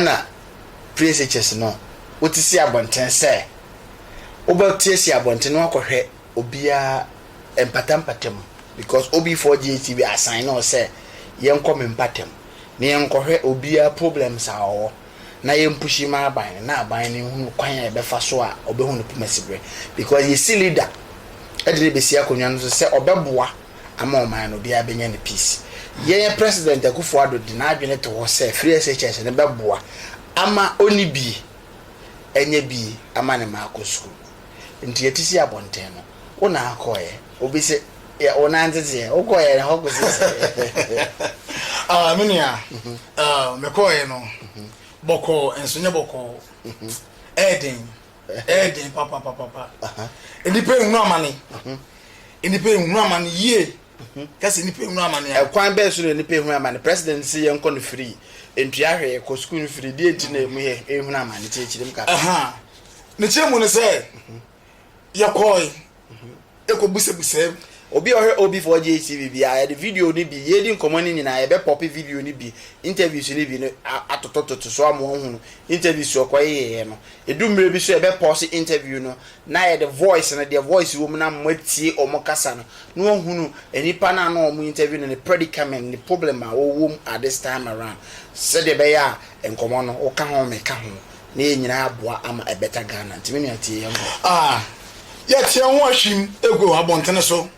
na preasekyɛs no wote si abɔnten sɛ wobɛteasia abɔnten no akɔhwɛ obiara mpatampata mu because OB4 GHTV asaene ɔ sɛ yɛnkɔ me mpatam na yɛnkɔhwɛ obiara problems a ɔwɔ na yɛmpushi ma aban no na aban no nhunu kwan a ɛbɛfa so a ɔbɛhu ne poma siberɛ because yɛsi leader de no bɛsi akonnwa no so sɛ ɔbɛboa ama ɔman no obiara bɛnya ne peace. Yɛn President Akuffo Addo de n'adwene to hɔ sɛ free SHS no bɛboa ama ɔnni bie, ɛnyɛ bie ama ne mma akɔ sukuu. Nti yɛte si abɔnten no, wo na akɔeɛ. Obi se yɛ wo nan teteɛ, wo kɔeɛ no hɔ kɔsi sɛɛ? Ah me nua, ah me kɔeɛ no bɔkɔɔ nso nyɛ bɔkɔɔ, ɛyɛ den. Ɛyɛ den papapapapa. Nnipa nhunu amane. Nnipa nhunu amane yie. Kasi nnipa nhunu amane a. Ɛkwan bɛn so na nnipa ehunu amane? President si yɛn kɔ no firi ntua hwee kɔ sukuu no firi deɛ nti na emu yɛ ehunu amane kyerɛkyerɛ mu kakra. Ne kyerɛ mu ne sɛ yɛkɔɔe. ɛkɔbusabusaam. Obi a ɔhwɛ OB4J TV biara, yɛde video no bi, yɛredi nkɔmmɔ no nyinaa, yɛbɛpɔpe video no bi, interviews no bi no atotototo so ama wɔahunu interviews a ɔkɔyeeɛ no. Ɛdu mmerɛ bi so a, yɛbɛpɔɔse interview no na yɛde voice no, deɛ voice wɔ mu no ama moatie wɔn kasa no, na wɔahunu nipa no a na wɔn interview no, ne predicament, ne problem a ɔwɔ mu at this time around, sɛdeɛ ɛbɛyɛ a nkɔmmɔ no, woka ho, meka ho, na yɛn nyinaa aboa ama ɛbɛta Ghana nti me nua tie yɛn nkɔ. Ah, yɛte yɛn ho ahwim egu abɔntene so,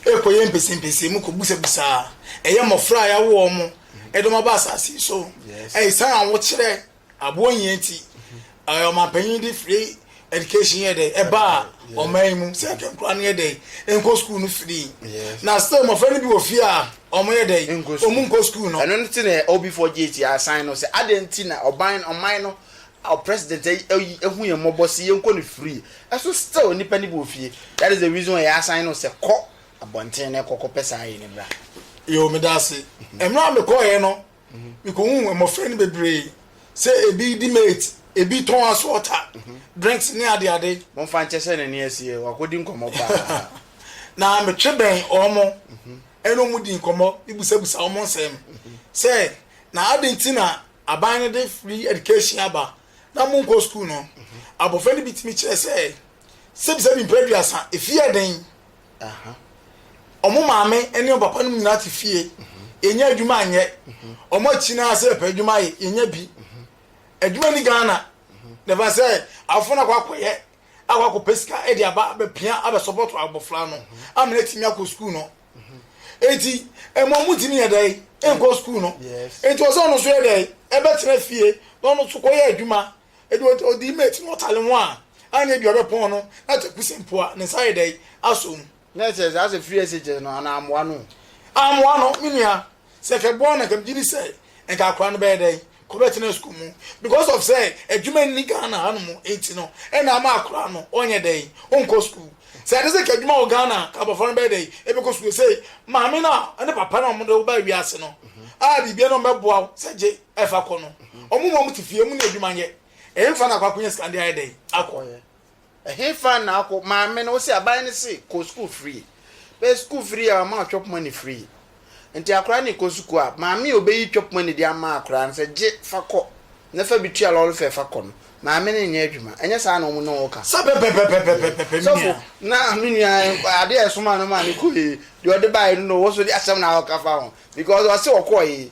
ɛkɔ yɛ mpɛsɛmpɛsɛ mu kɔ busabisa, ɛyɛ mmɔfra a yɛawo wɔn mo de wɔn aba asase yi so, ɛsan awokyerɛ aboɔ nyɛ nti, ɛɛ ɔmanpanyin de free education yɛ dɛ ɛba a ɔman yi mu sɛ nkɛnkora no yɛ dɛ nkɔ school no free, na still mmɔfra no bi wɔ fie a. Wɔyɛ dɛn? Wɔnkɔ sukuu. Wɔnkɔ sukuu no. Ɛno nti na Obifoɔ JT asan no sɛ, adɛn nti na ɔban, ɔman no, our president ayi, ahu yɛn mmɔbɔ se yɛnkɔ no free, ɛso still nnipa no bi wɔ fie. That is the reason why yɛasan no sɛ kɔ abɔnten na kɔ kɔpɛ saa ayi no bra. Yoo, meda ase. Mmerɛ a mekɔeɛ no, mekɔhuu mmɔfra no bebree sɛ ebi di mate ebi tɔn asɔɔta drinks ne adeade momfa nkyɛ sɛ n'ani asie wakɔdi nkɔmmɔ paa na metwe bɛn wɔn ɛne wɔn di nkɔmmɔ mebusabusa wɔn nsɛm sɛ na ade nti na aban no de free education aba na monkɔ sukuu no abɔfra no bi tumi kyerɛ sɛ sɛbisa bi mpɛ aduasa efie yɛ den ɔmo maame ɛne ɔmo papa no nyinaa te fie yɛnyɛ adwuma anyɛ ɔmo akyi naa sɛ yɛpɛ adwuma ayɛ yɛnyɛ bi adwuma ni ghana dɛfa sɛ afo no akɔ akɔyɛ akɔ akɔpɛ sika ɛde aba abɛpia abɛ support abɔfra no amena timi akɔ sukuu no eti ɛmo ɔmo timi yɛ dɛ ɛnkɔ sukuu no eti ɔsɛ ɔno so yɛ dɛ ɛbɛtena fie na ɔno so kɔyɛ adwuma Enti ɔde odii maa ti na ɔtale ho a anna ebia ɔbɛpɔn no na twa kuse mpo a, ne nsa ayɛ dɛn? Asɔ mu. Na ɛkyerɛ sɛ asɛ firi ase kyɛ no, anaa ammoa no? Ammoa no, me nua. Sɛ nka ɛboa no a, nka megye di sɛ nka akwadaa no bɛyɛ dɛn? Ɔbɛtena sukuu mu. Because of sɛ adwuma nni Ghana hanom nti no, ɛna ama akwadaa no ɔnyɛ dɛn? Ɔnkɔ sukuu. Sɛ ɛte sɛ nka adwuma wɔ Ghana a, nka abɔfra no bɛyɛ dɛn? Ɛbɛkɔ sukuu. Sei, maame no a, ne papa no a wɔde wo baa wiase no, a biribiara na wɔbɛboa wo sɛ gye. ɛfa kɔ no ɔmo ma ɔmo te fie ɔmo ne adwuma nyɛ ɛhefa na akɔ akɔnya sika de ayɛ dɛn akɔ ɛhefa na akɔ maame no ɔsi aban no se kɔ sukuu free bɛyɛ sukuu free a ɔma twɛp money free nti akora ne kɔ sukuu a maame a ɔbɛyi twɛp money de ama akora no sɛ gye fa kɔ na fa bi tua lɔre fɛ fa kɔ no maame no nyɛ adwuma ɛnyɛ saa na ɔmo ne ɔka sɛ pɛpɛpɛpɛpɛpɛpɛ sɔfo na me nua adeɛ ɛsoma no ma ne kɔ yi deɛ ɔde baeɛ no na ɔwɔ so de asɛm na ɔka fa ho because ɔse ɔkɔ yi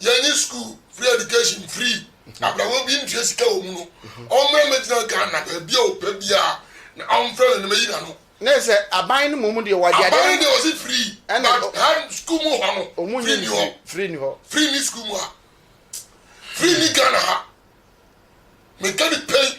yɛnye school free education free abrabɔ obi ntua sika wɔ mu no ɔmmra mɛgyina ghana baabi a ɔpɛ biara na ɔmfrɛ me na mɛyi na no ne sɛ aban no mmom deɛ wɔde aban no deɛ ɔse free but ha school mu hɔ no ɔmu nyi ni hɔ free ni hɔ free ni school mu ha free ni ghana ha meka ne pɛi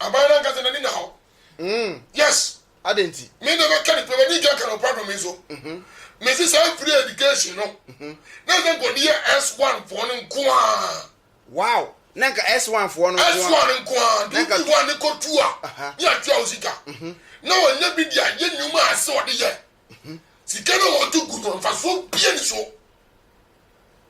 Aban no ankasa n'ani nna hɔ. Mm. Yes. Adɛn nti? Me na mɛka ne pɛ, m'ani ntua ka na ɔpra dɔ me so. Mhm. Mesi saa mfiri education no. Mhm. Na ɛsɛ nkɔde yɛ S1 foɔ no nko ara. Wow! Na nka S1 foɔ no nko ara. S1 nko ara. Nti wodi one kɔtu a, ne yɛtua wo sika. Mhm. Na ɔnyɛ bi deɛ, yɛ nnwuma a ɛsɛ ɔde yɛ. Sika no a wɔde gu no, mfasoɔ bia ni so.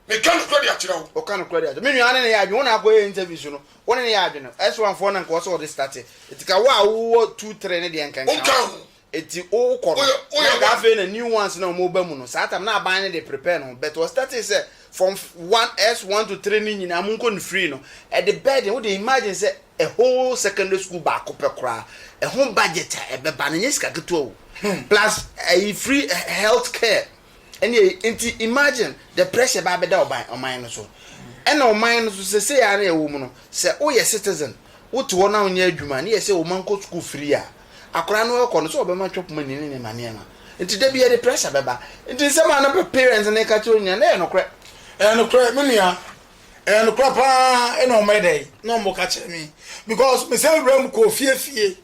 Meka nokorɛ de akyerɛ wo. Ɔka nokorɛ de akyerɛ me nua ne ne yɛ adwene. Wo na akɔyɛ interview so no, wo ne ne yɛ adwene. S1 foɔ na nka ɔsɛ ɔde starte. Eti ka wo a wowɔ two three ne deɛ nka nka Ɔnka ho. Eti wokɔ no, na nka afei na new ones na wɔn reba mu no, saa tam na aban no de prepare ne ho. But ɔstartee sɛ from one, S1 to three ne nyinaa monkɔ no free no, ɛde burden, wode imagine sɛ A whole secondary school baako pɛ koraa ɛho budget a ɛbɛba no ɛnyɛ sika ketewa o. Plus ɛyi free health care ɛne ɛyi nti imagine the pressure ɛbɛ abɛda ɔban ɔman no so. Ɛna ɔman no so sɛsɛyi ara na yɛwɔ mu no sɛ woyɛ citizen wote hɔ na wonyɛ adwuma ne yɛsɛ woma nkɔ school free a akwadaa no ɛkɔ no sɛ ɔbɛma twɛp money ne nneɛma nneɛma nti dabi yɛde pressure bɛba nti nsɛm a na parents no ɛka kyerɛ wo nyinaa na ɛyɛ nokorɛ. Ɛyɛ nokorɛ me nua Ɛyɛ nokorɛ paa na wɔn bɛyɛ dɛn na wɔn bɛka kyerɛ me because me sɛ wura mu kɔ fie fie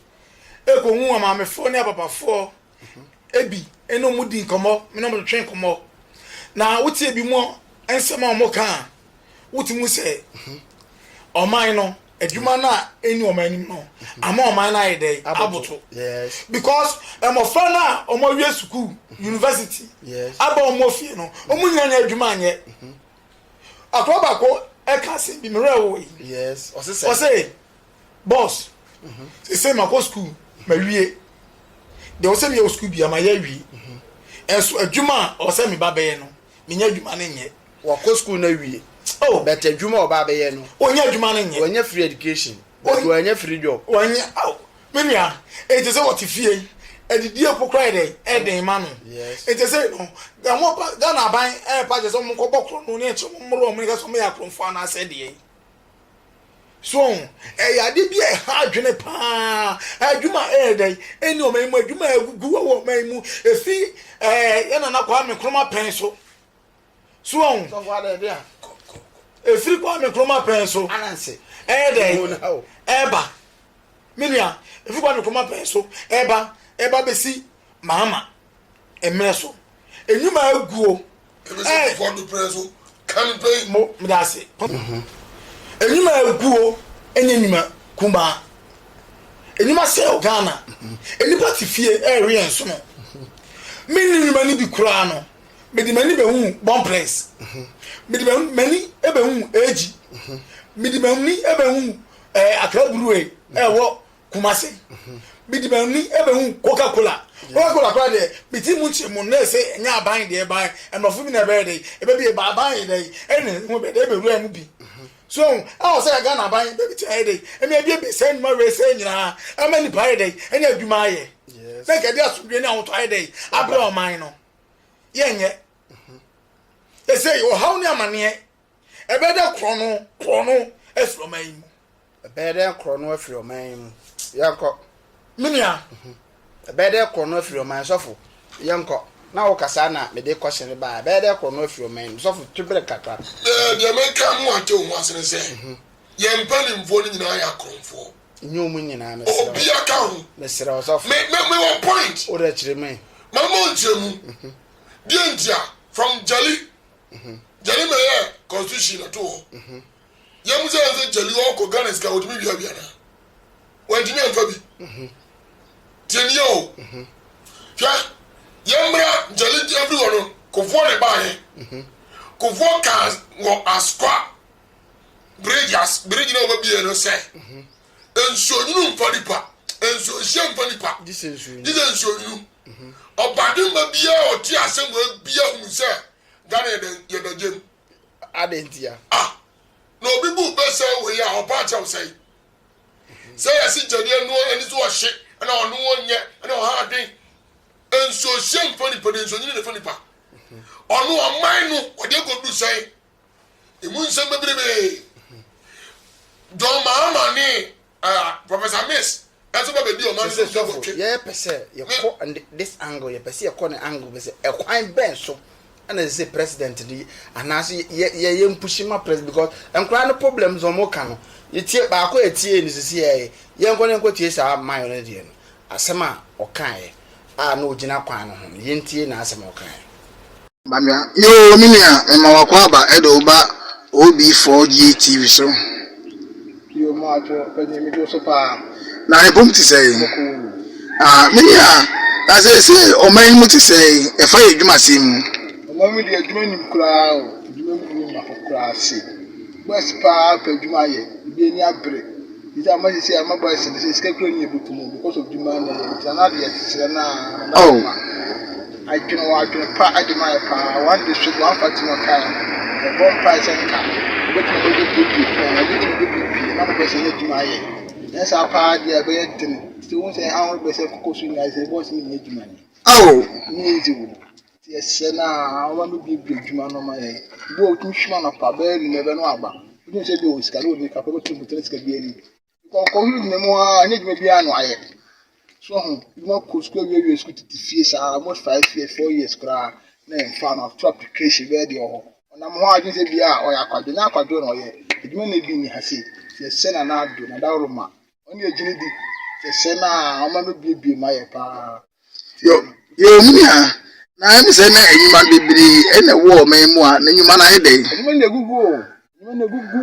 ɛkɔ hu amaamefoɔ ne apapafoɔ ebi ɛna wɔn di nkɔmɔ me na wɔn twɛn nkɔmɔ na wote ebi mu nsɛm a wɔn ka a wote mu sɛ ɔman no adwuma no a ɛni wɔn anim no ama ɔman no ayɛ dɛn aboto because mmɔfra no a wɔn awie sukuu university aba wɔn fie no wɔn nyinaa nyɛ adwuma anyɛ. Mm -hmm. Akoa baako ɛka asɛm bi mmerɛ wɔ yi. Yes, ɔse sɛ. Ɔse, boss, mhm. sese ma kɔ school ma wie. Deɛ ɔsɛ meyɛ wɔ school bia ma yɛ wie. Mhm. Ɛnso adwuma a ɔsɛ me ba bɛyɛ no, menyɛ adwuma no nyɛ. Wakɔ school na wie. Oh. But adwuma ɔba bɛyɛ no. Ɔnyɛ adwuma no nyɛ. Ɔnyɛ free education. Ɔnyɛ free job. Ɔnyɛ, oh. Me nua, enti sɛ ɔte fie yi, adidie mpo koraa yɛ dɛn? Ɛyɛ den ma no. Yes. Enti sei no, deɛ wɔn ba, Ghana aban ɛrepa kyɛ sɛ wɔn nkɔbɔ korɔno ne ɛkyɛ wɔn mmoro wɔn ne ka sɛ wɔn yɛ akorɔmfoɔ anaasɛ deɛn. So, ɛyɛ ade bi a ɛha adwene paa. Adwuma a ɛyɛ dɛn? Ɛni wɔn anim adwuma a ɛgugu wɔ wɔn anim. Ɛfi ɛɛ yɛn nana Kwame Nkrumah pɛn so. so wɔn sɔfo adɛde a efiri Kwame Nkrumah pɛn so ananse ɛyɛ dɛ ɛba me nua efiri Kwame Nkrumah pɛn so ɛba ɛba besi Mahama mmerɛ so enyuma eguo ɛɛ efiri do pɛn so kan pɛn mo mo da ase enyuma eguo enye enyuma kumaa enyuma sɛw Ghana enipa ti fie ɛɛwe yɛn so no me nneɛma ni bi koraa no. mede m'ani bɛhuu Bon Prince, mede m'ani bɛhuu Eji, mede m'ani bɛhuu ɛɛ Accra Brewery ɛwɔ Kumasi, mede m'ani bɛhuu Coca Cola, Coca Cola koraa deɛ mete mu nkyerɛ mu na ɛsɛ ɛnyɛ aban deɛ ɛban mmorɔfo bi na ɛbɛyɛ dɛ ɛbɛbi ɛba aban yɛ dɛ ɛna ɛho ɛbɛyɛ dɛ ɛbɛwura mu bi so ɛho ɛwɔ sɛ Ghana aban bɛbɛtumi ayɛ dɛ ɛmi abiebie sɛ nnwuma wei sɛ nyinaa ɛma nipa ayɛ dɛ ɛne adwuma ayɛ sɛ nka ɛde asomdwe ne ahotɔ ayɛ dɛ abrɛ ɔman no. yɛnyɛ ɛsɛ yi ɔhaw ne amaneɛ ɛbɛyɛ dɛ korɔ no korɔ no afiri ɔman yi mu ɛbɛyɛ dɛ korɔ no afiri ɔman yi mu yɛnkɔ menua ɛbɛyɛ dɛ korɔ no afiri ɔman sɔfo yɛnkɔ na wo kasa na mede kɔhyɛ ne baa ɛbɛyɛ dɛ korɔ no afiri ɔman yi mu sɔfo tu bere kakra deɛ meka mu ate wo ho asene sɛ yɛn mpanimfoɔ no nyinaa yɛ akorɔmfoɔ Nyɛ ɔmo nyinaa mesrɛ wo. Obia ka ho. Mesrɛ wo sɔfo. Me me me wɔ point. Wo dɛ kyerɛ me. Ma ma nkyerɛ mu. Deɛ ntia from jali jali mɛ yɛ constitution na to hɔ. Yɛ mu sɛ yɛn sɛ jali ɔɔ kɔ Ghana sika ɔtumi wia wia na. Wɔ ntumi anfa bi. Tie ni yɛ o. Hwɛ yɛ mbra jali jɛ firi hɔ no kofoɔ na ɛbaa yɛ. Kofoɔ kaa wɔ askwa bridge as bridge na ɔbɛ bie no sɛ nsuo nyunu nfa nipa nsuo nhyia nfa nipa gyesɛ nsuo nyunu ɔbade mma biara ɔte asɛm wɔ bia hu sɛ Ghana yɛda yɛda gyem adentia ah na obi bu bɛsɛ wɔ yɛ a ɔpa akyɛw sɛ sɛ yɛsi gyɛdeɛ no ani so ɔhye ɛna ɔno ɔnyɛ ɛna ɔha adwen nsuo hyia nfa nipa de nsuo nyunu nfa nipa ɔno ɔman no ɔde agodu sɛn Emu nsɛm bebrebee. John Mahama ne uh, Professor Miss ɛnso ba bedi ɔman no so dwabɔtwe. Yɛ pɛ sɛ yɛkɔ this angle yɛ pɛ sɛ yɛkɔ ne angle bɛ sɛ ɛkwan bɛn so ɛna sɛ president ni anaasɛ yɛ yɛ yɛ mpushi ma president because nkora no problems wɔn ka no yɛtie baako yɛtie ne sisi yɛ yɛnkɔ ne nkɔ tie saa mayɔ ne deɛ no Asɛm a ɔkaeɛ a na ɔgyina kwan no ho no, yɛntie n'asɛm a ɔkaeɛ. Bamia, Yoo me nua, mema w'akɔ aba de wo ba OB4GA TV so. Yoo Moadwo, Panin megye wo so paa. Na yɛn bom te sɛn? Bɔkɔɔ o. Me nua, na seesei ɔman yi mu te sɛn, ɛfa yɛn adwumasɛm mu? Ɔman mu deɛ adwuma nnim koraa o, adwuma mu nni mmaho koraa sei. Boys paa pɛ adwuma ayɛ ebi ani abere nti ama sisi a ama boys ne sɛ sika kura ni ebi tumu because of dwuma na ɛyɛ nti na deɛ srɛ na na oh. ma adwene wɔ adwene pa de ma yɛ paa one day so one fa tuma kaa ɛbɔ mpa ɛsɛ nka ebetumi bɛ bɛ bie bie paa ebetumi bɛ bie bie na mo bɛ sɛ ne adwuma ayɛ na saa paa deɛ ɛbɛyɛ den sɛ wɔn sɛ ahoro bɛ sɛ koko so nyinaa sɛ boys ne nyɛ adwuma ni oh ne yɛ nti wɔ. Yɛsrɛ no ara, wɔma no buebue adwuma ano ma yɛn. Ebi wɔ hɔ, otumi hwim anɔpa bɛyɛ anwummere bɛ no aba. Wotumi sɛ ebi wɔ sika na onni kakra, obetumi abu kyɛn sika biara ni. Ɔkɔ hwɛ gyina mu ara, ɛnyɛ adwuma biara na wayɛ. So ho, ebi ma kɔ sukuu awie awie sukuu tete fie saa almost five years, four years koraa na yɛmfa no, ato application bɛyɛ deɛ ɔwɔ hɔ. Ɔnam hɔ a, gyesɛ bia ɔyɛ akwadwo, ɛnyɛ akwadwo na ɔyɛ. Adwuma na ebi nni ha sei. Yɛsrɛ Nana Addo, Nana Addo Roma. Ɔne agyini di kɛsɛ na ɔma no biebie ma yɛ paa. Yo, yo me nua, na ɛne sɛ na nnwuma bebree na ɛwɔ ɔman mu a, na nnwuma no ayɛ dɛn? Nnwuma no agugu o, nnwuma no agugu.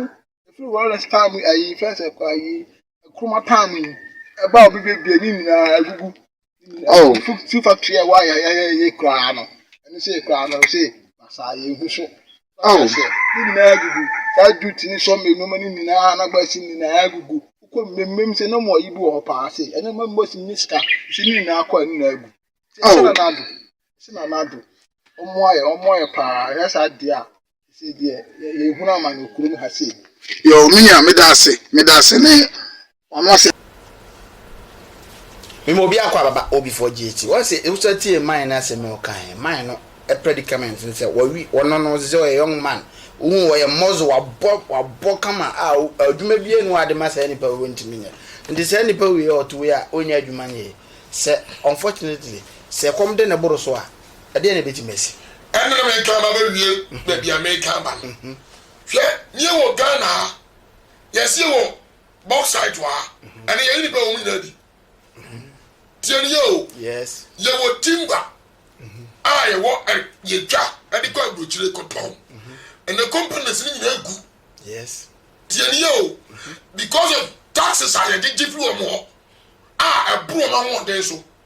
Ɛfiri Lawrence town mu, ayi, fɛn sɛ kɔ ayi, Nkrumah town mu yi, ɛba a obi bɛbie ne nyinaa agugu. Oh, feel factory a why I I I cry no. And you say cry no say I you who so. Oh, you know gugu. That do tini so me no mani mina na ba si mina gugu. Uko mmemmem se no mo ibu ho pa se. Ene mo mo si niska. Si ni na akwa ni na gugu. Se na na do. Se na na do. Omo aye, omo aye pa. Yes, I dear. Ɛsɛ deɛ yɛhunu amane kurom ha sei. Yoo me nua meda ase meda ase ne wano ase. Mema obi akɔ ababa o before GHT wɔn sɛ ewusa tie man no asɛm a ɔka he man no predicament ne sɛ wɔwe wɔno no sɛ ɔyɛ young man wohu ɔyɛ mɔzo wabɔ wabɔ kama a adwuma bia ni hɔ ade ma saa nipa wei ɔntumi nyɛ nti saa nipa wei ɔte wei a ɔnya adwuma nyɛ sɛ unfortunately sɛ ɛkɔm de ne boro so a Ɛdeɛn na ɛbɛtumi asi? Ɛnna na mereka aba abɛwie baabi a mereka aba no. Hwɛ, na yɛwɔ Ghana ha, yɛse yɛwɔ bauxite wɔ ha, ɛnnɛ yɛne nnipa a wɔn nyinaa di. Tie no yie o, yɛwɔ timber a yɛwɔ ɛ, yɛtwa de kɔ aburokyire kɔtɔn. Ɛnna companies no nyinaa gu. Tie no yie o, because of taxes a yɛgyegye firi wɔn hɔ a ɛboro wɔn ahoɔden so.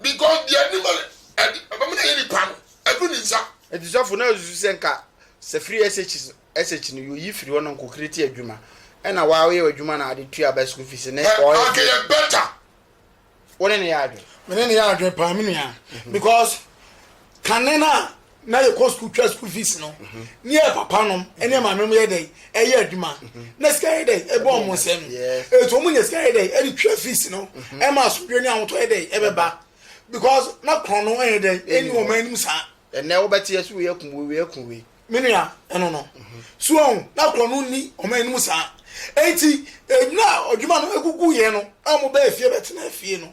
Because deɛ anim a ɛde ɛbɛma no ayɛ nipa no aduru ne nsa. Enti sɔfo no asusu sɛ nka sɛ firi SHS SH no yɛyi firi hɔ na nko create adwuma ɛna waa woyɛ w'adwuma na ade tua ba school fees ne Ɛ anka yɛ better. Wo ne no yɛ adwene. Me ne no yɛ adwene paa me nua because kane no a na yɛkɔ sukuu twa sukuu fees no ne yɛ papa nom ne maame nom yɛ dɛn ɛyɛ adwuma na sika yɛ dɛn ɛbɔ ɔmo nsɛm ɛti ɔmo nya sika yɛ dɛn ɛde twa fees no ɛma asomdwe ne ahotɔ yɛ dɛn ɛbɛba because na korɔn no ɛyɛ dɛn ɛni wɔn anim saa ɛnɛ wobɛte yɛ so wei akum wei wei akum wei menua ɛno no so ɔho na korɔn no ni wɔn anim saa ɛti ɛdwuma adwuma no ɛgugu yɛ no a wɔbɛɛ fie bɛtena fie no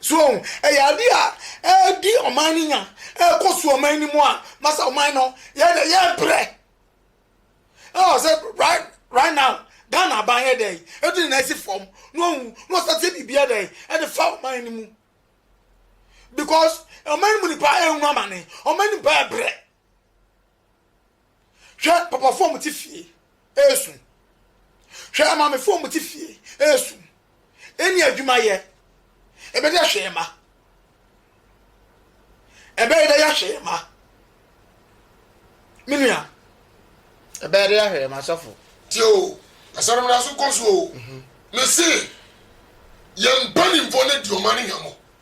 So ohu? Ɛyɛ ade a ɛredi ɔman no nya, ɛrekɔ so ɔman no mu a, masa ɔman no, yɛn de yɛbrɛ. Ɛwɔ sɛ right right now, Ghana aban yɛ dɛn? Ɛde ne nan si fam na ohu na ɔsan sɛ biribi yɛ dɛn? Ɛde fa ɔman no mu. Because ɔman no mu nipa ɛrehu amane, ɔman no nipa ɛbrɛ. Hwɛ papafoɔ a wɔte fie resu. Hwɛ amaamefoɔ a wɔte fie resu. Ɛnni adwuma yɛ. Ɛbɛyɛ hwee ma. Ɛbɛyɛ dɛ yɛ hwee ma. Me nua. Ɛbɛyɛ dɛ yɛ hwee ma sɔfo. Tie o, asɛm no da so kɔ so o. Mese, yɛn mpanimfoɔ no adi ɔman no hwammɔ.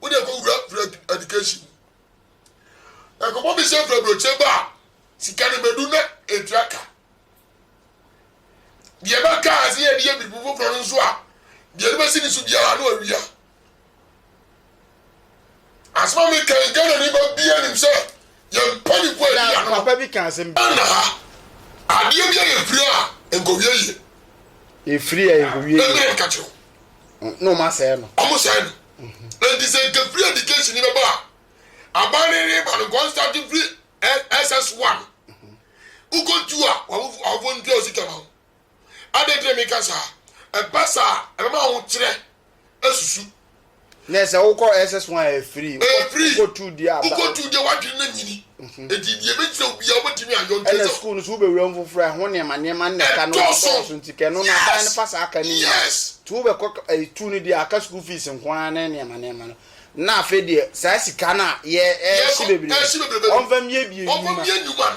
wo deɛ kɔ wura wura education mu ɛkɔbɔ mi sɛ fura burokyɛn ba a sika no bɛdu na etua ka deɛ ba ka ase yɛ deɛ biribi foforɔ no nso a deɛ no bɛsi ne so biara no awia asɛm a meka yi ghana ne ba bia nim sɛ yɛmpɛ ne kɔ awia no papa bi ka asɛm bi na ha adeɛ bi a yɛfiri a nkɔwie yie ɛfiri a nkɔwie yie ɛmɛ nka kyerɛw Na wɔn asɛe no. Wɔn sɛe no. Nti sɛ nkefiri education ni bɛba a, aban ne ne ba no nkɔn start firi SS one. Wokɔ tu a wɔn ntua wo sika ma wo. Adan ti na meka saa. Ɛba saa a ɛbɛma ahokyerɛ asusu Nɛ sɛ wokɔ SS1 a ɛfiri, wokɔ tu deɛ a. Wokɔ tu deɛ w'adwene no nyini. Enti deɛ ɛbɛgyina wo biara wobɛtumi ayɔ nti sɛ. Ɛna sukuu no so wobɛwura mu foforɔ a ɛho nneɛma nneɛma no na ɛka no dɔɔso nti kɛ ɛno no aban no fa saa ka no nyina nti wobɛkɔ tu no deɛ aka sukuu fees nko ara ne nneɛma nneɛma no na afei deɛ saa sika no a yɛ ɛɛhye bebrebe ɔmfa mmie bie nnwuma.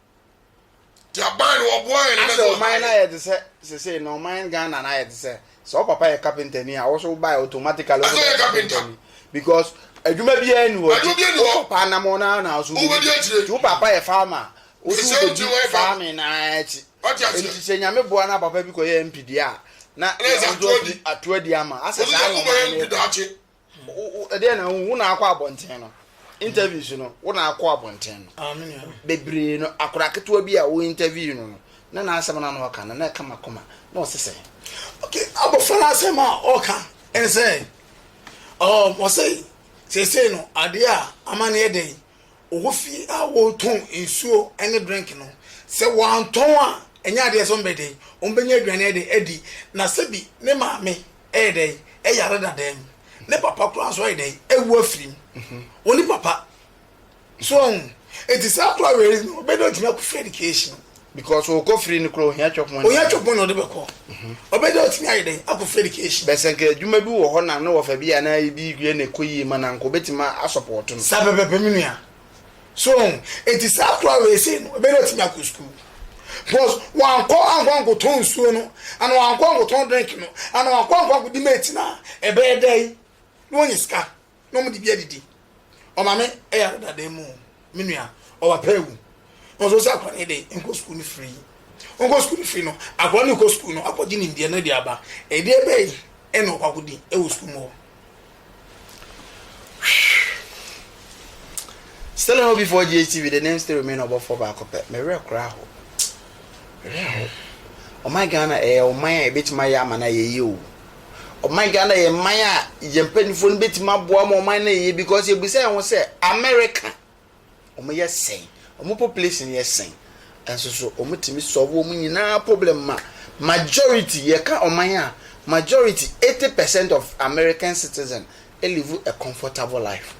Asɛ ɔman no ayɛ te sɛ sesei no ɔman Ghana no ayɛ te sɛ sɛ wo papa yɛ carpenter ni a wo so wobae automatically wo bɛyɛ carpenter ni because adwuma biara ni hɔ nti wo papa nam ɔno ara na wo so wobɛdi nti wo papa yɛ farmer a wo so wobɛdi farming no ara akyi nti sɛ nyame boa na papa bi kɔyɛ MP deɛ a na yɛn nso atumi ato adi ama asɛ saa na ɔman no yɛ ɛdeɛ na wo na akɔ abɔnten no interviews no wo na akɔ abɔnten no ah, bebree no akora ketewa bi a wo interview no no na n'asɛm no na ɔka no na ɛka ma kɔma na ɔse sɛ okay abɔfra no asɛm a ɔka ɛne sɛ um, ɔse seesei no adeɛ a ama no yɛ dɛn ɔwɔ fie a wɔtɔn nsuo ne drink no sɛ wɔantɔn a ɛnyɛ adeɛ sɛ ɔmbɛdɛn ɔmbɛnya aduane de adi na sɛbi ne maame ɛyɛ dɛn ɛyare dadaa mu ne papa koraa nso ayɛ dɛn ɛwu afiri mu mhm. wɔne papa so ɔn eti saa koraa wɛrɛ yi ɔbɛ dɛ ɔtumi akɔ free education. because ɔkɔ free no koraa ohia chop money. ohia chop money ɔde bɛ kɔ mhm. ɔbɛ dɛ ɔtumi ayɛ dɛn akɔ free education. bɛsɛ nka adwuma bi wɔ hɔ na ne wɔfɛ bi a na ebi yɛ na ɛkɔ yie ma na nka obetumi asɔpɔtɔ no. saa pɛpɛpɛ mi nua so ho enti saa akora wei sei no ɛbɛyɛ ɔtumi akɔ sukuu because wankɔ ankɔ ankɔtɔ nsuo no ana wankɔ ankɔtɔ drink no ana wankɔ ankɔ ankɔdi mate no a ɛbɛyɛ dɛ yi na wɔnyɛ sika na wɔn de bi adidi ɔmaame ɛyɛ adedadan mu me nua ɔba pɛ ewu wɔn nso sɛ akora no de nkɔ sukuu no firi yi nkɔ sukuu no firi no akora no kɔ sukuu no akɔgye nimdeɛ no de aba ɛdeɛ bɛyi ɛna ɔkɔ akɔdi ɛwɔ sukuu mu hɔ. Still ho before GHTV, the name still remain ɔbɔfoɔ baako pɛ. Me werɛ kora aho. Me werɛ aho. Ɔman Ghana ɛyɛ ɔman a yɛbɛtumi ayɛ ama no a yɛyɛ o. Ɔman Ghana yɛ man a yɛn mpanimfoɔ no bɛtumi aboa ma ɔman no yɛ because yɛbisa yɛn ho sɛ America Wɔn yɛ sɛn? Wɔn population yɛ sɛn? Nso so wɔn tumi solve wɔn nyinaa problem ma majority yɛ ka ɔman a majority eighty percent of American citizen live a comfortable life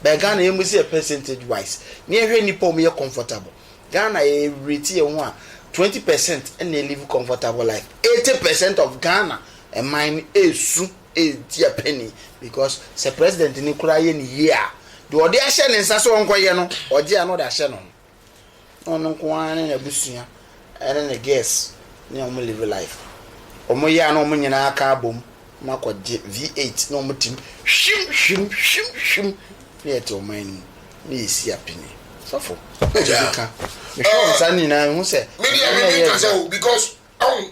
bɛɛ Ghana yɛ mu si yɛ percentage wise ne yɛ hwɛ nipa wɔn yɛ comfortable Ghana yɛ rate yɛ ho a twenty percent na live comfortable life eighty percent of Ghana ɛman no esu. ntua penny because sɛ president no koraa yɛ ne yie a deɛ ɔde ahyɛ ne nsa sɛ ɔnkɔyɛ no ɔgye a na ɔde ahyɛ ne ho na ɔno nko ara ne n'abusua ɛne ne girls ne wɔn live life wɔn yɛ a na wɔn nyinaa aka abom na akɔgye V8 na wɔn tim hwim hwim hwim hwim na yɛte ɔman no mu na yɛsi apini sɔfo ɛdi ka mehwɛ wɔn nsa no nyinaa ehu sɛ media me ne nka sɛ o because ɔn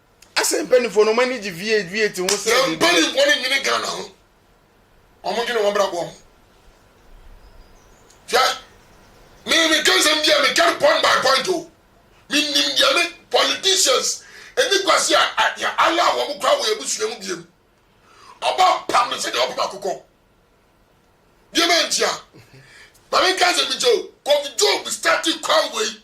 Asɛn mpaninfoɔ no, ɔmo ani gye V8 V8 ho sɛ biribi. Na mpaninfoɔ no nwene Ghana ho, ɔmo dwene wɔn abrabɔ ho. Hwɛ, me me ka nsɛm bi a me ka no point by point o, me nim deɛ me politicians ɛni kwasi a yɛ allow wɔn koraa wɔ yɛ abusua mu biem. Ɔba pam no sɛdeɛ ɔpam akokɔ. Deɛ ma ntia, ma me nka nsɛm bi nkyɛ o, Kofi Job starti kwan wei.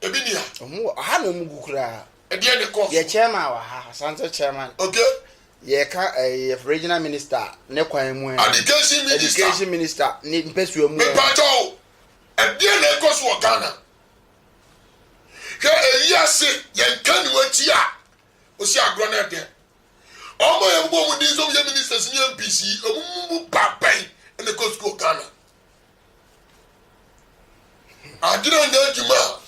Ebi ni a. Ɔmo wɔ ɔha na ɔmo gu koraa. Ɛdeɛn na ɛkɔɔ so? Yɛ chairman wɔ ha, Asante chairman. Okay. Yɛka ɛɛ eh, regional minister ne kwan mu ɛ. Eh. Education minister. Education minister ne mpɛsua mu ɛ. Eh. Mepakyɛ o, ɛdeɛn na ɛkɔ so wɔ Ghana? Hwɛ ɛyi ase, yɛn ka ne wakyi a, ɔsi agorɔ no ɛdɛ. Ɔmo a yɛn bobɔ ɔmo din sɛ ɔmo yɛ ministers ne MPs yi, ɔmo mu ba bɛn na ɛkɔ sukuu wɔ Ghana? adwene nyɛ adwuma a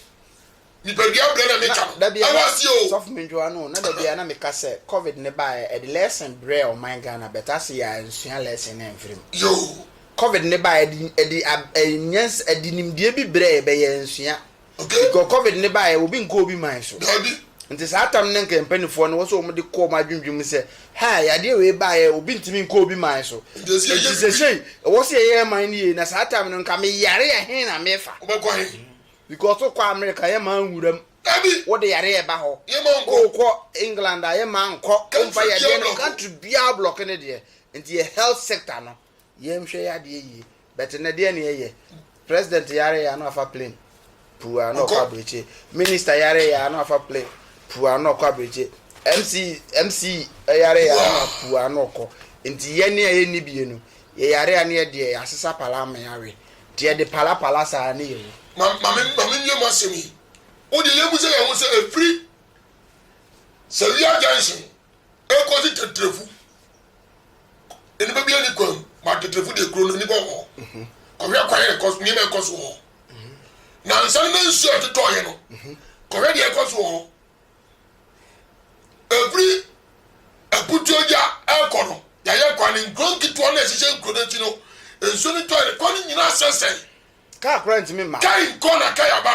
nipadua brɛ na ne ka no ɛwɔ aseɛ o. sɔfo mentwa no na dabi a na meka sɛ covid ne baeɛ ɛde lesson brɛ ɔman Ghana but ase yɛ a nsua lesson no ɛmfiri mu yoo. covid ne baeɛ ɛde ɛde ɛde nimdeɛ bi brɛ yɛ bɛ yɛ nsua Because covid no baeɛ obi nkɔ obi man so. Dabi. Nti saa tam no nka mpanifoɔ no wɔ sɛ wɔn de kɔ wɔn adwendwen mu sɛ ha yadeɛ wei baeɛ obi ntumi nkɔ obi man so. Nti sɛsɛi ɛwɔ sɛ yɛyɛ yɛ man no yie na saa tam no nka me yare a hen na mefa. Wobɛkɔ he? Because wokɔ America yɛ maa nwura mu. Dabi. Wode yareɛ ba hɔ. Yɛ maa nkɔ. Wokɔ England a yɛ maa nkɔ. Country biara blɔk. Country biara blɔk ne deɛ. Nti yɛ health sector no. yɛn hwɛ yɛ adeɛ yie but na deɛ ne yɛyɛ president yare yɛ ano afa plane pua na ɔkɔ abirikyi minister yare yɛ ano afa plane pua na ɔkɔ abirikyi mc mc yare yɛ ano pua na ɔkɔ nti yɛn ne a yɛn ni bie no yɛ yare a ne yɛ deɛ yɛasesa pala ama yɛawe nti yɛde pala pala saa ne yɛ wu. maame maame nwie mu asɛm yi o deɛ yɛn mu sɛ yɛn ho sɛ efiri sɛ wia junction ekɔ si tɛtɛfu nnipa bi ani kwan ma ateterefo deɛ kuro no nnipa wɔ hɔ kɔhwɛ kwan yɛ kɔ nneɛma ɛkɔ so wɔ na nsa no na nsuo a ɛtotɔ yɛ no kɔhwɛ deɛ ɛkɔ so wɔ hɔ ɛfiri aputuo gya ɛkɔ no yɛayɛ kwan no nkuro nketewa no ɛhyehyɛ nkuro no akyi no nsuo no tɔ yɛ kɔ no nyinaa sɛsɛe kaa kora ntumi ma kai nkɔ na kai aba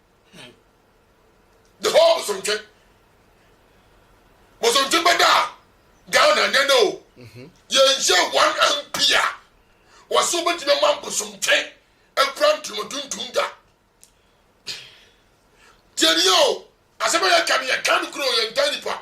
The whole Bosontwe. Bosontwe bɛda a Ghana nyɛ no o. Mhm. Yɛnhyɛ one MP a wɔsɛ wobɛtumi ama Bosontwe akura ntoma tuntum da. Tiɛniyɛ o, asɛm a yɛka no yɛka no kuro yɛntaa nipa.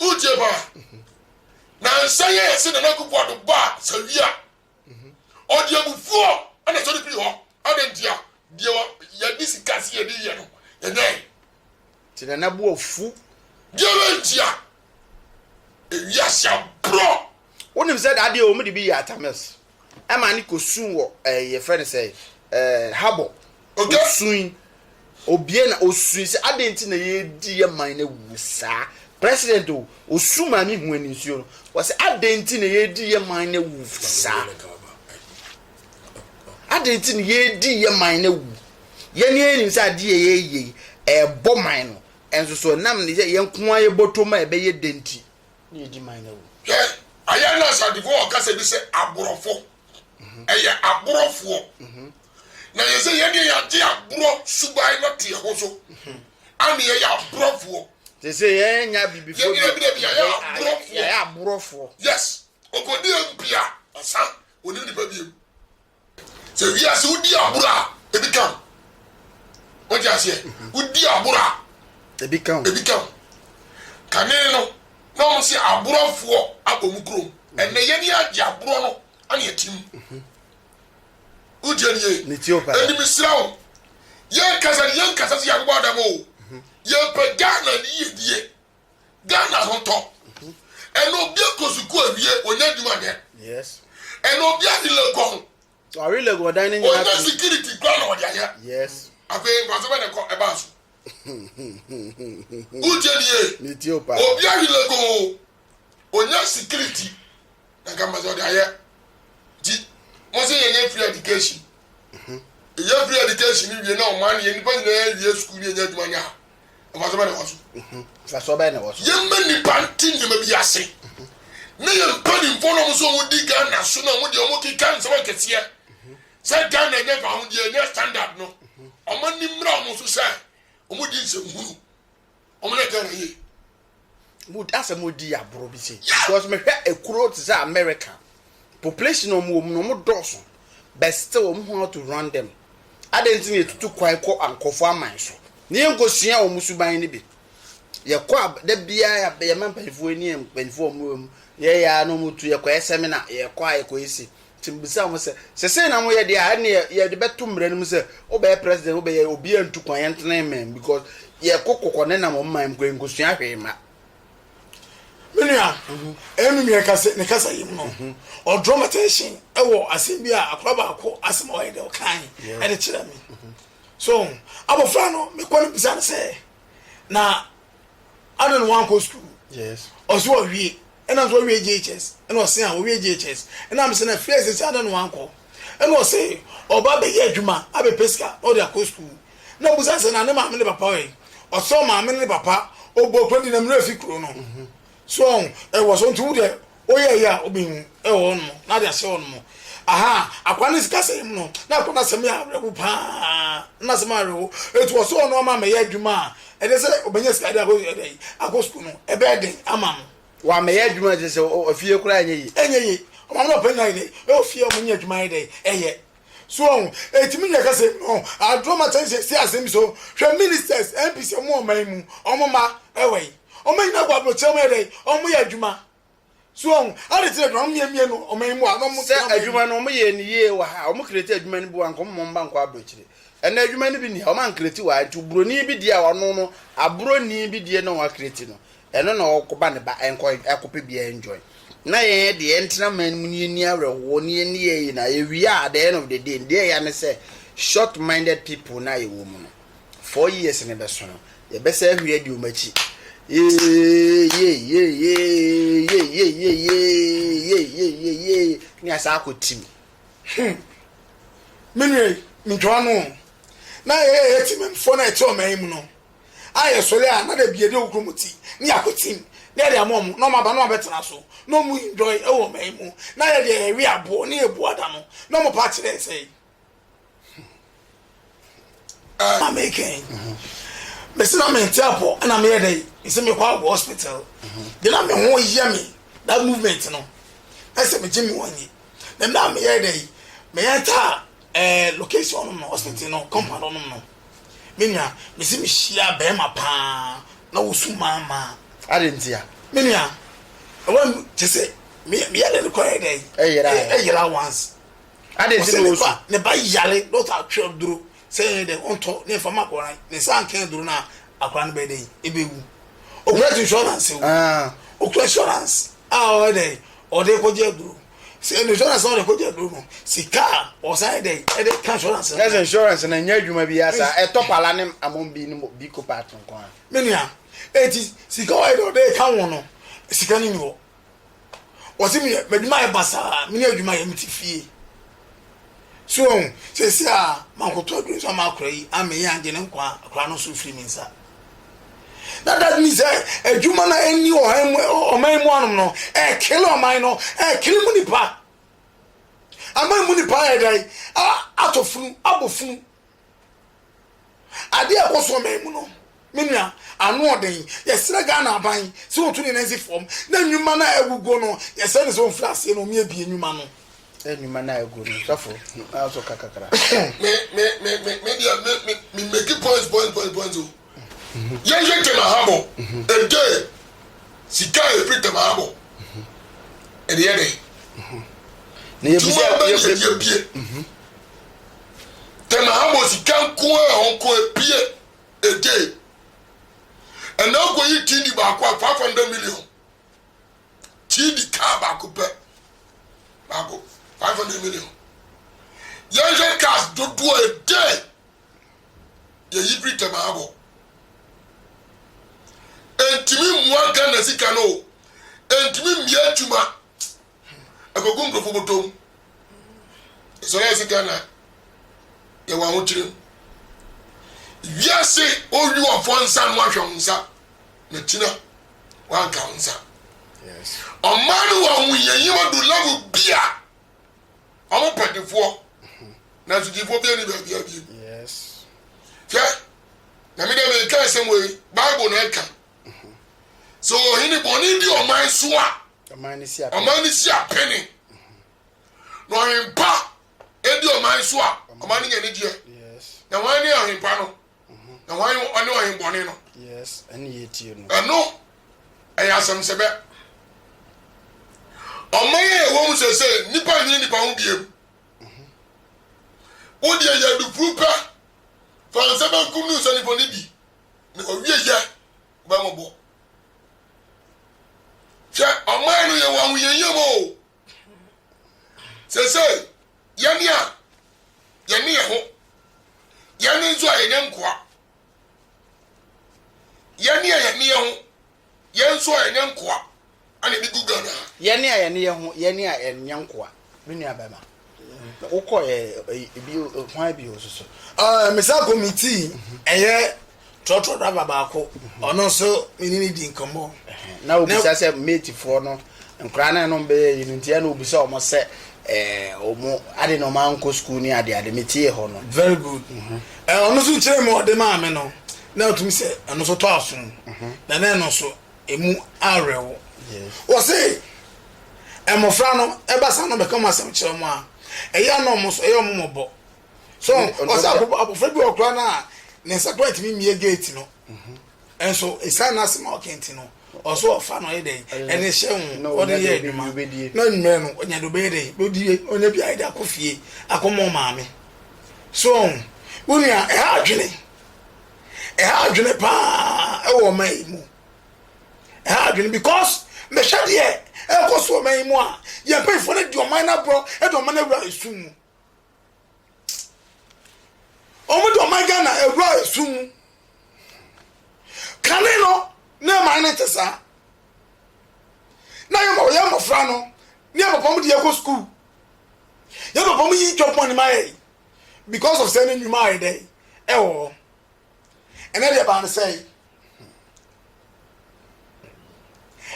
Wogye ba na nsa yɛ ɛse na n'akubu ado ba sawia. Ɔde abufuo na ɛsɔre firi hɔ. Adɛn ntia? Deɛ yɛde sika se yɛde yɛ no, yɛnyɛe. Nti na n'abu afu. Deɛ bɛ ntia? Ewiase aborɔ Wonim sɛ dadeɛ wɔn de bi yɛ atames ɛma ne kɔ sun wɔ ɛɛ yɛfrɛ ne sɛ ɛɛ habɔ. Okay. Osun obie na osun sɛ adan nti na yɛdi yɛ man na wuo saa. President o osun maame hu ani nsuo no wɔsɛ adan nti na yɛdi yɛ man na wu saa. Adan nti na yɛdi yɛ man na wu. Yɛn yɛn nim sɛ adeɛ yɛ yɛ ɛɛbɔ man no ɛnso so ɛnam ne yɛ yɛn nko ara yɛbɔ tom a ɛbɛyɛ denti. na edi man no awu. Hwɛ, ayɛ na asadefo wɔ kasa bi sɛ aborɔfo. Ɛyɛ aborofoɔ. Na yɛ sɛ yɛdeɛ yɛagye aborɔ suban no ato yɛ ho so. Ane yɛyɛ aborɔfoɔ. Te sɛ yɛnya bibifoɔ bi. Yɛdeɛ bi yɛyɛ aborɔfoɔ. Yɛyɛ aborɔfoɔ. Yes. Ɔkɔdi MP a, ɔsan. Ɔnim nipa biem. Sɛ wiase wodi agorɔ a, ebi ka ho. Wote aseɛ? Wodi agorɔ a, ebi ka ho. Ebi ka ho. Kane no, na wɔn sɛ agorɔfoɔ abɔ mu kurom. Ɛnɛ yɛn ni agye agorɔ no ɛna ɛte mu. Wotie ni yie. Ɛni mi sira wo. Yɛn kasa ni yɛn kasa si yɛn abobɔ adam o. Yɛn pɛ Ghana ni yie die. Ghana ho tɔ. Ɛna obi akɔ sukuu awie, onya adwuma nyɛ. Yes. Ɛna obi adi legon. Ɔre legon ɔdan ne nyinaa. Onya security kura na ɔde ayɛ. Yes. Afei nkwaso bɛ na ɛkɔ ɛbaa so. Wogye ni ye. Ne ti o paa. Obi awi legon, onya security na nka mbasa ɔde ayɛ. Nti mo se yɛnyɛ free education. Mhm. Yɛ free education wie na ɔman yɛ nipa nyinaa wie sukuu ne yɛnya adwuma nyɛ a. Mfaso bɛn na ɛwɔ so? Mfaso bɛn na ɛwɔ so? Yɛmma nnipa nte nneɛma bi ase, ne yɛn mpanimfoɔ no a wɔn nso wɔdi Ghana so no a wɔn deɛ wɔkeka nsɛm akɛseɛ sɛ Ghana nyɛ fawodeɛ, nyɛ standard no, wɔn ani mmra wɔn so sɛ wɔdi nsɛmhunu, wɔyɛ Ghana yie. mo asɛm odi agorɔ bi se because me hwɛ ekuro te sɛ America population ɔmo wɔ mu no ɔmo dɔɔso but still ɔmo hu how to run them adɛn nti na yɛtutu kwan kɔ nkorɔfoɔ aman so na yɛn nkɔ sua ɔmo suban no bi yɛkɔ a da biara yɛma mpanyinfoɔ ni yɛ mpanyinfoɔ ɔmo wɔ mu yɛyɛ a na ɔmo tu yɛkɔ yɛ seminar yɛkɔ a yɛkɔ yɛ si Nti mebisaa wɔn sɛ, Sɛ sei na moyɛ deɛ a, ɛnneɛ yɛde bɛto mmara no mu sɛ, wobɛyɛ president, wobɛyɛ, obiara ntu kwan, yɛntena amen, because yɛkɔ kɔkɔ nenam wɔn man mu koraa, yɛnkɔsua hwee mma. Me nua, ɛnum yɛ kasa, ne kasa yim no, ɔdrɔ ma tension ɛwɔ asɛm bi a akora baako asɛm a ɔyɛ dɛ ɔkan ɛde kyerɛ me. So, abɔfra no, mekɔ no bisa no sɛ, na Adan na wankɔ sukuu. Yes. Ɔsi ɔwie. Ɛna nso ɔwie JHS. Ɛna ɔsi a ɔwie JHS. Ɛna mi sɛ na fie sisi adan na wankɔ. Ɛna ɔsi ɔba abɛyɛ adwuma abɛpɛ sika na ɔde akɔ sukuu. Na mi busa sɛ na ne maame ne papa wɛn. Ɔsi ɔmaame ne ne papa ɔbɔ kuro di na mi wura fi kuro no. So wɔn ɛwɔ so nti wo deɛ oyɛ ɛyɛ a obi hu ɛwɔ hɔ nom na ade ahyɛ hɔ nom aha akwa ne sika sɛm no na akwa na sɛm yɛ awerɛho paa na sɛm awerɛho etu wɔ so wɔn ama mɛ yɛ adwuma a ɛde sɛ ɔbɛnya sika de akɔ ɛdɛ yi akɔ sukuu no ɛbɛyɛ den ama no wɔ ama yɛ adwuma ɛde sɛ ɔfie koraa ɛnyɛ yi ɛnyɛ yi ɔmo ama ɔpɛ nyina yɛ dɛ ɛwɔ fie ɔmo nyɛ adwuma yɛ dɛ ɛyɛ. So ɔho? Etumi nyɛ kɛse no aduro ma sɛn sɛ asɛm so hwɛ ministers MPs ɔmo wɔ ɔman mu ɔmo ma ɛwɔ yi ɔmo nyina kɔ abrokyerɛ ɔmo yɛ dɛn ɔmo yɛ adwuma so ɔho ade kyerɛ dwuma ɔmo mie mie no ɔman mu a ɔmo sɛ adwuma no ɔmo yɛ ni yie wɔ ha ɔmo kreti adwuma no bi wɔ nka ɔmo mba nkɔ abrokyerɛ ɛna adwuma no bi ni ha ɔmo ankreti wɔ ha nti broni bi deɛ a wɔno no abroni bi deɛ na wɔn akreti no Ɛno na ɔkɔba ne ba nkɔ ɛkɔpɛ bia enjoy. Na yɛn ɛde yɛntena man mu na yɛnni awerɛhoɔ na yɛnni yɛn nyinaa yɛwie a at the end of the day deɛ ɛya ne sɛ short minded people no a yɛwɔ mu no four years no bɛso no yɛbɛsɛ ahuri adi wɔn akyi yeyeyeyeyeyeyeyeyeyeyeyeyeye ne yɛasa akɔ tim hmm menua yi mentwa ano na yɛyɛ yɛtimamfoɔ no a ɛte ɔman mu no a yɛsɔre a na dabi yɛde okuromoti ne yakotim na yɛde ama wɔn na wɔn aba na wɔn abɛtena so na wɔn enjoy ɛwɔ ɔman yi mu na yɛ deɛ yɛwe aboɔ ne yɛbu ada no na wɔn pa akyerɛ yɛ sɛn na mekɛn mesi na mente apɔ ɛna meyɛ dɛ mesi mekɔ agɔ hospital de na me ho yɛ me that movement no ɛsɛ megye me wɔnyi na mmerɛ a meyɛ dɛ meyɛ ntaa Eh location hɔ nom no hospital no compound hɔ nom no me nua mese me hyia bɛɛma paa na wosu maa maa. Adeɛ ntia. Me nua ɛwɔ mu kyese me me yare no kɔ yɛ dɛn ɛyera ɛyera once. Adeɛ nti na wosu. Ne ba yare doctor atwe duro sɛ yɛ dɛn ɔntɔ ne nfa ma akɔra ne nsa nkɛn duro na akɔra no bɛyɛ dɛn ebe wu okura insurance o okura insurance a ɔyɛ dɛn ɔde kɔgye aduro. sɛ ɛnu insurance ɔde kɔ gya duro no sika a ɔsan yɛ dɛ ɛde ka insurance. ɛsɛ insurance na nyɛ adwuma bi asa ɛtɔ pala ne amon bi ne bi ko part nko a. mi nua eti sika ɔyɛ dɛ ɔde ka wɔn no sika no ni hɔ wɔsi mi yɛ adwuma yɛ basaa mi ni adwuma yɛ mi ti fie So woahu? Seesei a makoto aduru nso ama akora yi, ama eyi angye ne nkwa, akora no nso firi me nsa. Na that means sɛ adwuma no a ɛnni ɔhan mu ɔman mu anom no ɛrekele ɔman no, ɛrekele mu nipa. Aman mu nipa ayɛ dɛn? Atɔ funu, abɔ funu. Adeɛ a ɛkɔ so ɔman mu no, me nua, ano ɔden. Yɛsrɛ Ghana aban sɛ wɔntu ne nan nsi fam na nnwuma no a aguguo no, yɛsrɛ no sɛ ɔmfiri aseɛ na wɔabie nnwuma no. Nnwuma no a aguo no, sɔfo, na wo nso ka kakra. Me, me, me, me, me deɛ, me, me, me make points, points, points, points o. Yɛnhwɛ Temahabo nte sika a ɛfiri Temahabo ɛde yɛ dɛn? Dwuma bɛn na ɛde abue? Temahabo sika nko ara a ɔkɔ abue ɛde ɛna ɔkɔyi Tindi baako a 500 million Tindi kaa baako pɛ baako 500 million Yɛnhwɛ cars dodoɔ ɛde Yɛ yi biri tɛm abɔ. Ɛntumi mmoa Ghana sika no o. Ɛntumi mmia adwuma. Ɛkɔgu nkurɔfoɔ bɔtɔm. Ɛsɔre ayɛ sɛ Ghana yɛ wɔn ahokyere mu. Wiase owi wɔfoɔ nsa no ahwɛ wɔn nsa. Na kyina wɔanka wɔn nsa. Ɔman no wɔ ahohiahia mu adu level bi a. Wɔn pɛ difoɔ, nanso difoɔ biara ni baabi a biem. Hwɛ, na me deɛ meka asɛm wei, Bible na ɛka. Sɛ ɔhene bɔne di ɔman so a, ɔman no si apene. Na ɔhempa di ɔman so a, ɔman no nya ne deɛ. Na wɔn ne ɔhempa no. Na hwan ne ɔne ɔhempɔne no? Yes, ɛne yɛtie no. Ɛno, ɛyɛ asɛmsɛbɛ. Ɔman a ɛwɔ mu sese, nnipa nyini nnipa ho biam. Wo deɛ yɛ adufuru pɛ, fa nsa benkum no nsa nifa no bi, na owie yɛ bɛmɔbɔ. Hwɛ, ɔman no yɛ wɔn ahohiahia mu o, Seesei, yɛn a yɛne yɛn ho, yɛn nso a yɛnyɛ nkoa, yɛne a yɛne yɛn ho, yɛn nso a yɛnyɛ nkoa, ɛna ebi gu Ghana ha. Yɛne a yɛne yɛn ho, yɛne a yɛnyɛ nkoa, me nua bɛma. wokɔ yɛ ebi hwan bi o soso. ɛɛ mesan kɔ mi tii ɛyɛ trɔtrɔ daba baako ɔno nso mene ne di nkɔmmɔ. na obisa sɛ matefoɔ no nkora no ɛnom bɛyɛ yi no nti ɛna obisa ɔmo sɛ ɛɛ ɔmo ade na ɔmo ankɔ sukuu ne ade ade metie hɔ no. very good mhm. ɛɛ ɔno nso kyerɛ mu ɔde maa me no na otumi sɛ ɛno nso tɔ asom mhm. na na ɛno nso. ɛmu awerɛwo. Wɔse mmɔfra no ɛba saa na ɔbɛka wɔn asɛm kyerɛ wɔn a, ɛyɛ a na wɔn nso ɛyɛ wɔn mmɔbɔ. So wɔse abɔfra bi wɔ koraa no a ne nsa koraa ntumi mmie gate no. Mhm. Nso ɛsiane no asɛm a ɔka nti no, ɔso ɔfa no ɔyɛ dɛn ɛne hyɛ ho ɔde yɛ adwuma na mmerɛ no ɔnya de ɔbɛyɛ dɛn bɛdie ɔnya bi ayɛ de akɔ fie akɔmɔ maame. So wɔn nua ɛha adwene. ɛha adwene paa wɔ ɔman yi mu ɛha adwene because mehwɛ deɛ ɛkɔ so ɔman yi mu a yɛn mpanyinfoɔ no di ɔman no aborɔ de ɔman no awura esu mu wɔn de ɔman ghana awura esu mu kane no ne ɛman no te saa na yɛ ma wɔyɛ mmɔfra no ne yɛ papa mu de yɛ kɔ sukuu yɛ papa mu yi twɛ pɔn ne ma yɛ yi. because of sɛ ne nnwuma ayɛ dɛn ɛwɔ hɔ ɛnɛ deɛ baa ne sɛ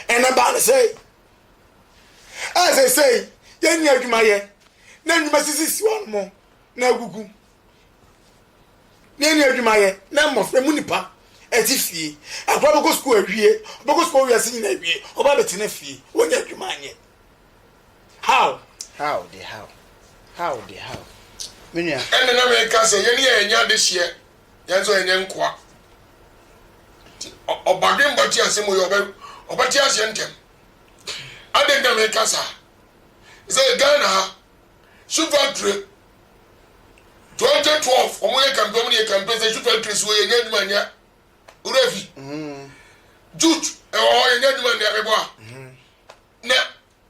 ɛnɛ baa ne sɛ ɛsɛ sɛ yɛnni adwuma yɛ na nnwuma sisi si wɔn mo na agugu na yɛnni adwuma yɛ na mmɔfra mu nipa ɛte fie akora bɛkɔ sukuu awie ɔbɛkɔ sukuu awie ase nyina awie ɔba bɛtena fie wɔnyɛ adwuma anyɛ How? How de how? How de how? Me nua. Ɛnna na meka sɛ yɛne yɛn nyɛ adehyeɛ, yɛn nso yɛnyɛ nkoa. Nti ɔbadwemba te asɛm wei ɔbɛ ɔbɛte aseɛ ntɛm. Adɛn nti na meka saa? Sɛ Ghana ha, shoe factory 2012 wɔn yɛ campaign wɔn yɛ campaign sɛ shoe factory so yɛnyɛ adwuma nyɛ wura fi. Jute ɛwɔ hɔ yɛnyɛ adwuma nyɛ mebɔ a. Na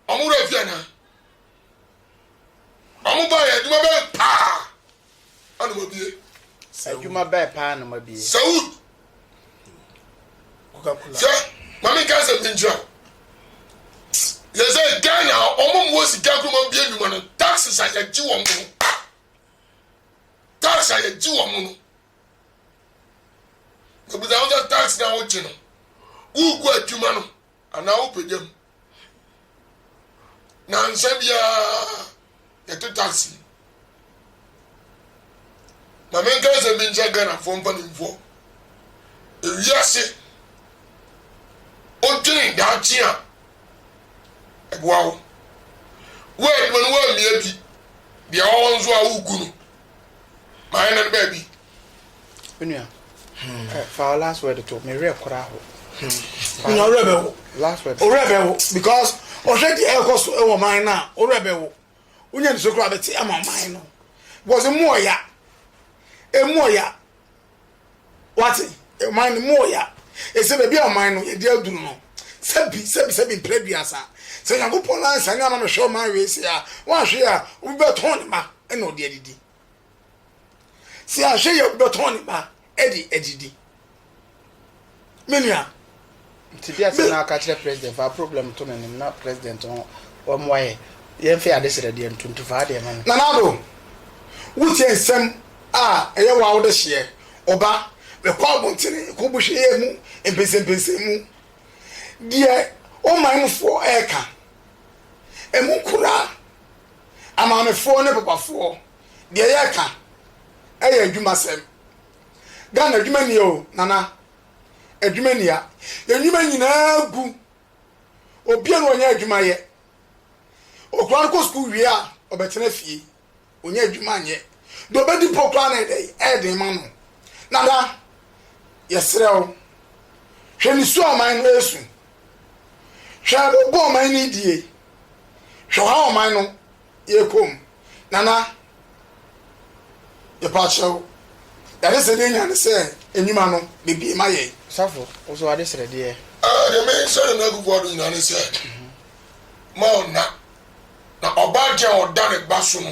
wɔn werɛ afi anaa? Wɔn baeɛ adwuma bɛn paa na wɔabie? Adwuma bɛn paa na wɔabie? Sɛ wo sɛ maame nka sɛ menkyerɛ wo yɛ sɛ Ghana wɔn mu wɔ sika kuro wɔn bie nnwuma no taxes a yɛgye wɔn no tax a yɛgye wɔn no ebusa wɔn sɛ tax na wɔgye no wogu adwuma no. anaa wopagya mu. Nansa biara yɛte taxi. Ma menka asɛm bi nkyerɛ Ghanafoɔ mpanimfoɔ. Ewiase odwen daakye a ɛboa wo. Wo adwuma no woammia bi, deɛ ɔwɔ nso a wogu no. Mayɛ no baabi. Onua, hmm. eh, fa last word to me werɛ kora ho. Onua hmm. werɛ bɛ wo. Last word. Werɛ bɛ wo because ɔhwɛ di ɛkɔ so ɛwɔ man na werɛ bɛ wo. Onua nso kora bɛ ti ama man no. Because emu ɔya, emu ɔya, wati man no mu ɔya. Ese baabi a man no yɛ di aduru no. Sɛbi sɛbi sɛbi mpere duasa. Sɛ Nyankopɔn lansa ne ama mehwɛ ɔman wei se a, wɔahwe a, wobɛtɔn ne ma ɛna ɔde adidi. sɛ ahwɛ yɛ wobɛtɔn ne ba de adidi me nua nti deɛ sɛ na aka kyerɛ president fa problem to no nim na president no wɔmmoa yɛ yɛmfɛ ade serɛ deɛ ntonto faa deɛ ma no nanado wotie nsɛm a ɛyɛ wa wode hyeɛ ɔba mekɔ abontene kɔ bohwɛ yɛ mu mpɛnsɛmpɛnsɛn mu deɛ ɔman mufoɔ ɛɛka ɛmu koraa Amaamefoɔ ne papafoɔ deɛ yɛka ɛyɛ adwuma sɛm Ghana adwuma nie o nana adwuma nia yɛn nnwuma nyinaa gu obia no ɔnyɛ adwuma yɛ okura no kɔ sukuu wie a ɔbɛtena fie ɔnyɛ adwuma nyɛ deɛ ɔbɛdi po kura no ɛdɛ ɛden ma no nana yɛserɛ o hwɛ ne su aman no ɛsu Hwɛ abo bɔ ɔman no die, hwɛ ɔhaw ɔman no yɛ kɔ mu. Nana, yɛpa kyɛ wo, Yɛade srɛdeɛ nya ne sɛ nnwuma no bɛbie ma yɛn. Safo, wo so w'ade srɛdeɛ? Aa, deɛ me srɛdeɛ no agugu ado nyinaa ne sɛ, ma ɔnna, na ɔbaa deɛ a ɔda ne ba so no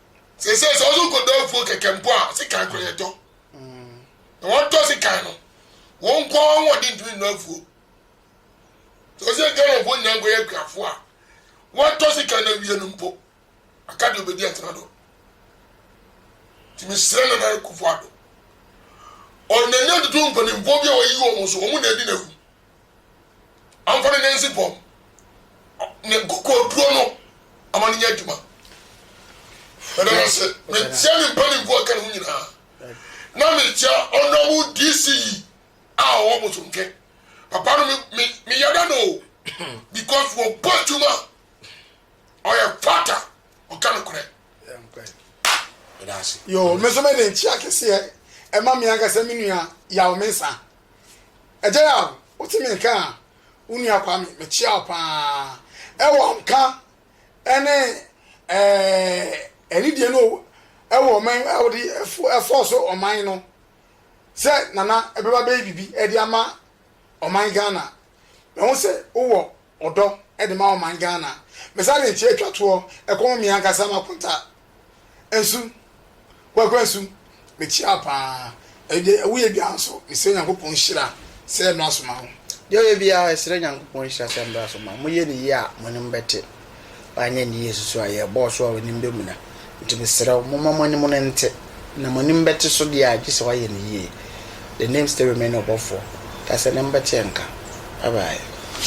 Seesei sɛ ɔso nkɔdɔ afuo kɛkɛ mpo a, sekan kora yɛtɔ. Na wɔtɔ sekan no, wɔn nko ara wɔn de ntumi nnɔ afuo. Sɛ ɔsɛ yɛn Ghanafoɔ nyinaa nkɔyɛ akuafoɔ a, wɔtɔ sekan na awie no mpo, aka deɛ ɔbɛdi atena do. Nti mesrɛ Nana Akufo-Addo, ɔnani atutu mpanimfoɔ bi a wayi wɔn so, wɔn na adi n'awu. Ɔmfa no nansi bɔ ne kokoɔduro no ama no nyɛ adwuma. Meda no ase. Metia ne mpanimfoɔ a ɛka ne ho nyinaa. Na metia ɔnɔbo DC yi a ɔwɔ Bosomtwe. Papa no me me me yada no o because wɔbɔ adwuma ɔyɛ fata ɔka no korɛ. Meda ase. Yo, me nso mede nkyia kɛseɛ ɛma me ankasa me nua Yao Mensah. Agya Yaw, wo te me nka a, wo nua Kwame, me kyea wo paa. Ɛwɔ nka ɛne ɛɛ ɛnidie no ɛwɔ ɔman ɛwɔde ɛfo ɛfɔ so ɔman no sɛ nana ɛbɛba bɛyɛ bibi ɛde ama ɔman Ghana. Mɛ ho sɛ wowɔ ɔdɔ de ma ɔman Ghana. Me saa de nkyɛ twa toɔ ɛkɔm me ankasa makonta nso Kwaku Ansu me kyia wo paa ɛɛ deɛ ɛwo yɛ biara nso me srɛ Nyankopɔn nhyira sɛ mmra so ma wo. Deɛ ɔyɛ biara ɛsrɛ Nyankopɔn nhyira sɛ mmra so ma mo yɛ ne yie a mo anim bɛte paa anyɛ ne yie susu a yɛ bɔɔso a w'anim bɛ muna nti me srɛ wo mo ma mo anim no nte na mo anim bɛte so deɛ a gye sɛ w'ayɛ ne yie the name still remain ɔbɔfoɔ ta sɛ ne mbɛte nka bye bye.